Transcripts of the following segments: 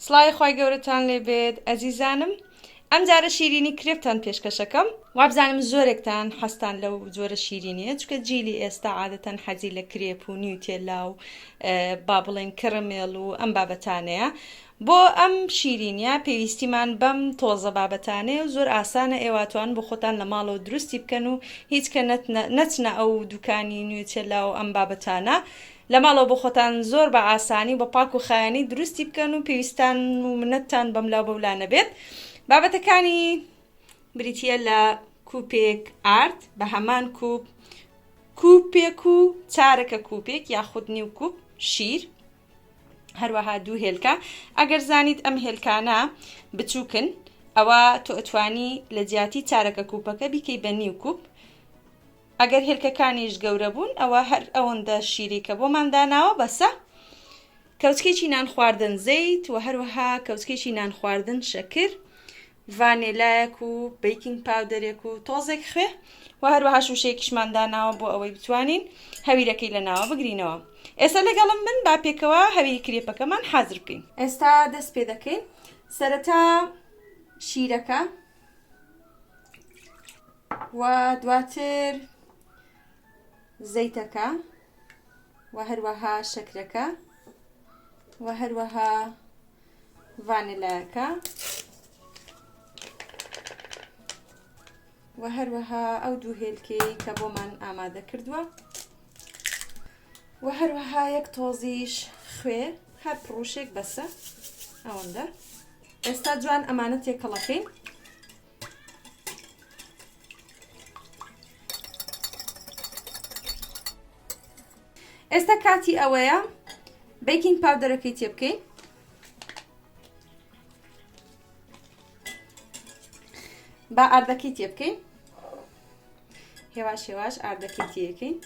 سڵاوی خوای گەورەتان لێ بێت ئەزیزانم ئەم جارە شیرینی کرێپتان پێشکەشەکەم وابزانم زۆرێکتان حەستان لەو جۆرە شیرینیە چکە جیلی ئێستا عادەتەن حەزی لە کرێپ و نیوتێلا و با بڵێن کڕمێڵ و ئەم بابەتانەیە بۆ ئەم شیرینە پێویستیمان بەم تۆزە بابەتانەیە و زۆر ئاسانە ئێواتوان بۆ خۆتان لە ماڵەوە دروستی بکەن و هیچکە نەچنە ئەو دوکانی نوێچێلا و ئەم بابەتانە لە ماڵەوە بۆ خۆتان زۆر بە ئاسانی و بە پاک و خایەنی دروستی بکەن و پێویستان و منەتتان بەملاو بەولا نەبێت بابەتەکانی بریتیە لە کوپێک ئارد بە هەمان کوپ کوپێک و چارەکە کوپێک یاخود نیو کوپ شیر هەروەها دوو هێلکە ئەگەر زانیت ئەم هێلکانە بچووکن ئەوە تۆ ئەتوانی لە جیاتی چارەکە کوپەکە بیکەی بە نیو کوپ ئەگەر هێلکەکانیش گەورە بوون ئەوە هەر ئەوەندە شیری کە بۆمان داناوە بەسە. کەوچکێکی نان خواردن زەیت و هەروەها کەوچکێکی نان خواردن شەکر، ڤانێلایەک و بیکینگ پاودەرێک و تۆزێک خوێ و هەروەها شووشەیەکیشمان داناوە بۆ ئەوەی بتوانین هەویرەکەی لە ناوە بگرینەوە ئێستا لەگەڵم بن با پێکەوە هەویری کرێپەکەمان حازر بکەین ئێستا دەست پێ دەکەین سەرەتا شیرەکە و دواتر زەیتەکە و هەروەها شەکرەکە و هەروەها ڤانلایەکە و هەروەها ئەو دوو هێلکەی کە بۆمان ئامادە کردووە و هەروەها یەک تۆزیش خوێ هەر پڕوشێک بەسە ئەوەندە ئێستا جوان ئەمانە تێکەڵەکەین ئێستا کاتی ئەوەیە بیکینگ پاودەرەکەی تێ بکەین با ئاردەکەی تێ بکەین هێواش هێواش ئاردەکەی تێەکەین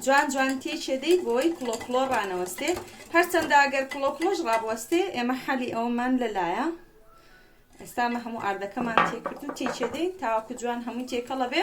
جوان جوان تێکێ دەیت بۆی کڵۆ کڵۆ ڕانەوەستێ هەرچەندە ئەگەر کڵۆ کڵۆش ڕابوەستێ ئێمە حەلی ئەوەمان لەلایە ئێستامە هەموو ئاردەکەمان تێکرد و تێکێ دەین تاوەکو جوان هەمووی تێکەڵە بێ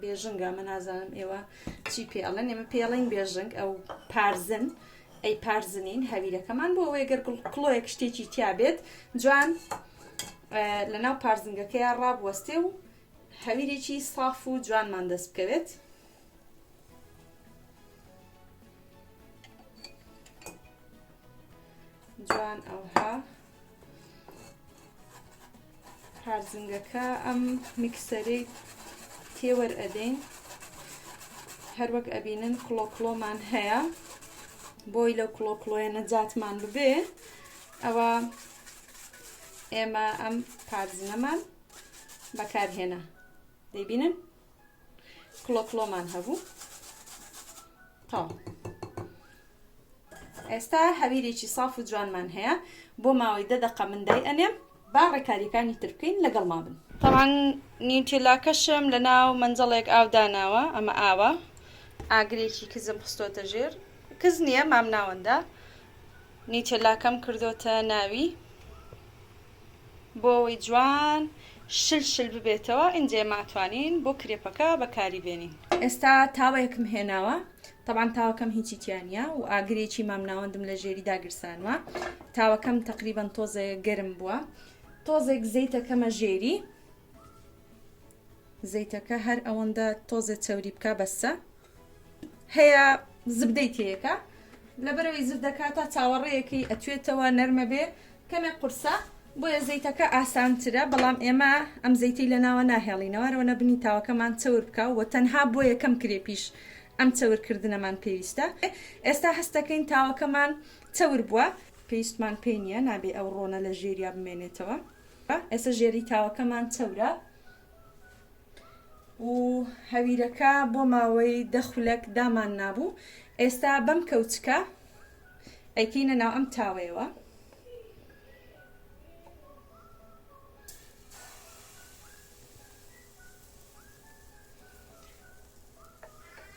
بێژنگە ئەمە نازانم ئێوە چی پێ ئەڵێن ئێمە پێڵین بێژنگ ئەو پارزن ئەی پارزنین هەویرەکەمان بۆ ئەوەیە گەر کڵۆیەک شتێکی تیا بێت جوان لە ناو پارزنگەکەیان ڕابوەستێ و هەویرێکی ساف و جوانمان دەست بکەوێت جوان ئەوها هارزنگەکە ئەم میکسەری تێوەر ئەدەین هەروەک ئەبینن کڵۆ کڵۆمان هەیە بۆی لەو کڵۆ کڵۆیە نەجاتمان ببێ ئەوە ئێمە ئەم پارزنەمان بەکارهێنا دەبینن کڵۆ کڵۆمان هەبوو تاو ئێستا هەویرێکی ساف و جوانمان هەیە بۆ ماوەی دە دەقە من دای ئەنێم با ڕێکاریەکانی تر بکەین لەگەڵ ما بن تاوان نیوتیلاکەشم لە ناو منجڵێک ئاو داناوە ئەمە ئاوە ئاگرێکی کزم خستۆتە ژێر کز نییە مام ناوەندە نیوتیلاکەم کردوتە ناوی بۆ ئەوەی جوان شل شل ببێتەوە ئینجێ ماتوانین بۆ کرێپەکە بەکاری بێنین. ئێستا تاوەیەکم هێناوە تەبعەن تاوەکەم هیچی تیانە و ئاگرێکی مام ناوەندم لە ژێری داگرسانوە تاوەکەم تقریبان تۆزێ گەرم بووە تۆزێک زەیتەکەمە ژێری زەیتەکە هەر ئەوەندە تۆزێ چەوری بکە بەسە هەیە زبدەی تێیەکە لەبەرەوەی زبدەکە تا چاوەڕێیەکەی ئەتوێتەوە نەرمە بێ کەمێک قورسە بۆیە زەیتەکە ئاسانترە بەڵام ئێمە ئەم زەیتی لە ناوە ناهێڵینەوەرەوە نەبنی تاوەکەمان چەور بکە و تەنها بۆ یەکەم کرێ پیش ئەم چەورکردنەمان پێویستە ئێستا هەستەکەین تاوەکەمان چەور بووە پێویستمان پێی نییە نابێ ئەو ڕۆنە لە ژێریا بمێنێتەوە ئێستا ژێری تاوەکەمان چەورە و هەویرەکە بۆ ماوەی دە خولەک دامان نابوو ئێستا بەم کەوچکە ئەیکەینە ناو ئەم تاوەیەوە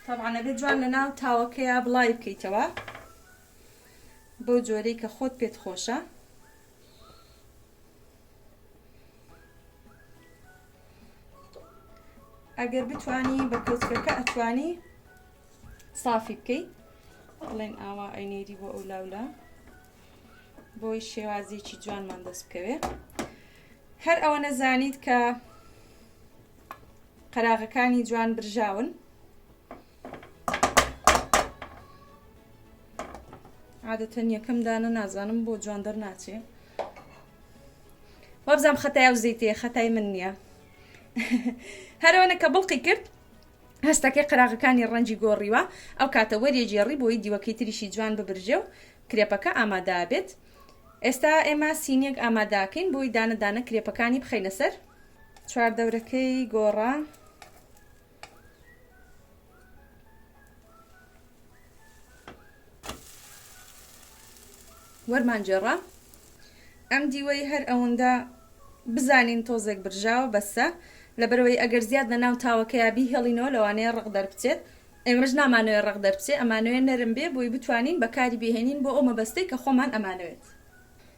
تاوانە بێ جوان لە ناو تاوەکەیە بڵای بکەیتەوە بۆ جۆرەی کە خۆت پێت خۆشە ئەگەر بتانی بە کۆچکەکە ئەتوانی سافی بکەیت بڵێن ئاوا ئەینێری بۆ ئەو لاولا بۆی شێوازێکی جوانمان دەست بکەوێ هەر ئەوە نەزانیت کە قەراغەکانی جوان برژاون عادەتەن یەکەم دانە نازانم بۆ جوان دەرناچێ وابزانام خەتای ئەو زەیتێ خەتای من نییە هەرەوەنە کە بڵقی کرد هەستەکەی قراغەکانی ڕەنجی گۆڕیوە ئەو کاتە وەریێجێڕی بۆی دیوەکەی تریشی جوان ببرژێ و کرێپەکە ئامادا بێت ئێستا ئێمە سینێک ئاماداکەین بۆی دانەدانە کرێپەکانی بخینە سەر چواردەورەکەی گۆڕا وەرمان گێڕا ئەم دیوەی هەر ئەوەندە بزانین تۆزێک برژاوە بەسە لەبەرەوەی ئەگەر زیاد لە ناو تاوەکەیا بیهێڵینەوە لەوانەیە ڕق دەربچێت ئێمەش نامانەوێت ڕق دەربچێ ئەمانەوێت نەرم بێ بۆی بتوانین بەکاری بهێنین بۆ ئەو مەبەستەی کە خۆمان ئەمانەوێت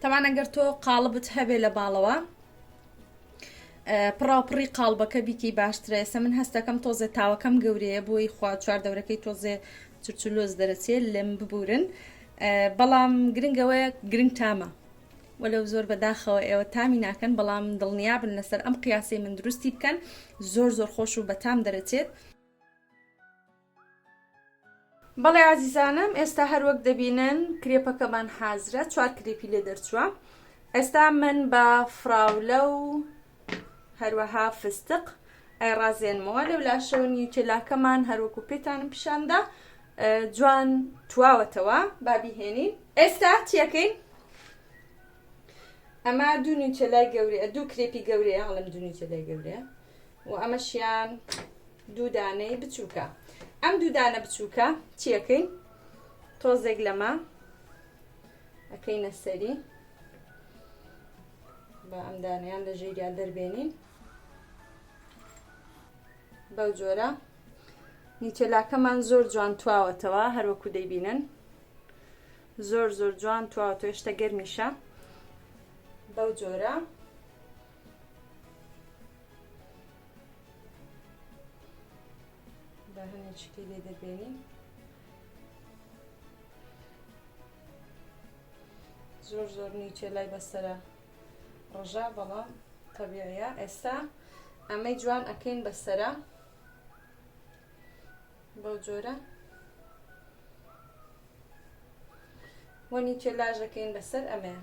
تەبان ئەگەر تۆ قاڵبت هەبێ لە باڵەوە پڕاوپڕی قاڵبەکە بیکەی باشترە ئێستا من هەستەکەم تۆزێ تاوەکەم گەورەیە بۆی خوا چوار دەورەکەی تۆزێ چرچلۆز دەرەچێ لەم ببورن بەڵام گرنگەوەیە گرنگ تامە وەلو زۆر بەداخەوە ئێوە تامی ناکەن بەڵام دڵنیابن لەسەر ئەم قیاسی من دروستی بکەن زۆر زۆر خۆش و بەتام دەرەچێت بەڵێ ئازیزانم ئێستا هەروەک دەبینن کرێپەکەمان حازرە چوار کرێپی لێ دەرچووە ئێستا من بە فراولە و هەروەها فستق ئەی ڕازێنمەوە لەو لاشەوە نیوتێلاکەمان هەروەکو پێتانم پیشاندا جوان تواوەتەوە بابیهێنین ئێستا چیەکەین ئەمە دوو نیوتێلای گەورەیە دوو کرێپی گەورەیە هەڵم دوو نیوتێلای گەورەیە و ئەمەشیان دوو دانەی بچووکە ئەم دوو دانە بچووکە چیەکەین تۆزێک لەمە ئەەکەینە سەری بە ئەم دانیان لە ژێریا دەربێنین بەو جۆرە نیچەلاکەمان زۆر جوان تواوەتەوە هەروەکو دەیبینن زۆر زۆر جوان تواوە تۆشتە گەرمیشە بەو جۆرە با هەنێ چکی لێ دەبێنی زۆر زۆر نیچێ لای بەسرە ڕژا بەڵام تەبیعە ئێستا ئەمەی جوان ئەکەین بەسرە بۆ جۆرە وەنی چێ لاژەکەین بەسەر ئەمەیە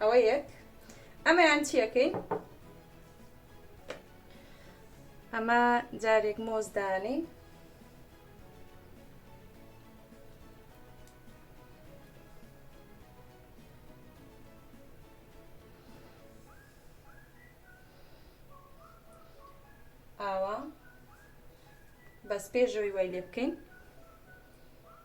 ئەوە یەک ئەمەیان چیەکەی ئەمە جارێک مۆزدانی ئاوا بەس پێشەوەی وای لێ بکەین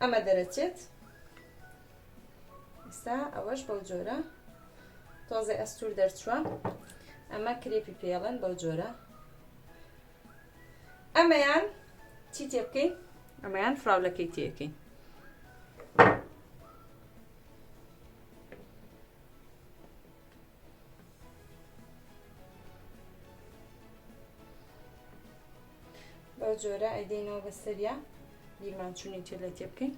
ئەمە دەرەچێت ئستا ئەوەش بەو جۆرە تۆزێ ئەستور دەرچووە ئەمە کرێپی پێڵێن بەو جۆرە ئەمەیان چی تێ بکەین ئەمەیان فراولەکەی تێکەین بەو جۆرە ئەیدەینەوە بە سەریا بیرمان چوونی تێ لە تێ بکەین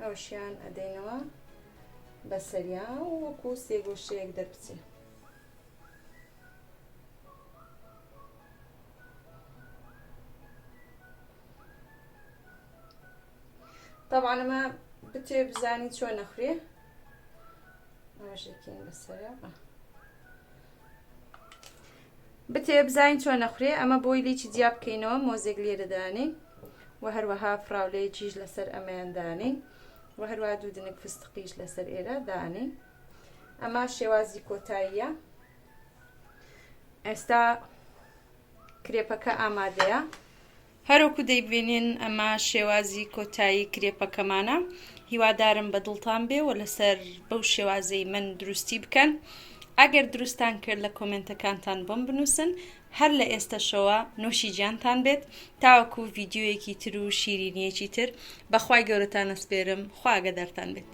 ئەوشیان ئەدەینەوە بە سەریا و وەکو سێگۆشەیەک دەربچێ طبعا ئەمە بتێ بزانی چۆ نەخورێ ڕژێکین بەسەر بتێ بزانین چۆ نەخورێ ئەمە بۆی لیی جیا بکەینەوە مۆزێک لێرەدانی و هەروەها فراولەیە چیش لەسەر ئەمەیاندانی و هەروە دوو دنک فستقیش لەسەر ئێرە دانی ئەمە شێوازی کۆتاییە ئێستا کرێپەکە ئامادەیە هەروەکو دەیبینین ئەمە شێوازی کۆتایی کرێپەکەمانە هیوادارم بە دڵتان بێ و لەسەر بەو شێوازەی من دروستی بکەن ئەگەر دروستان کرد لە کۆمێنتەکانتان بۆم بنووسن هەر لە ئێستەشەوە نۆشی جیانتان بێت تاوەکو ڤیدیۆیەکی تر و شیرینیەکی تر بەخوای گەورەتان ئەسپێرم خواگەدارتان بێت.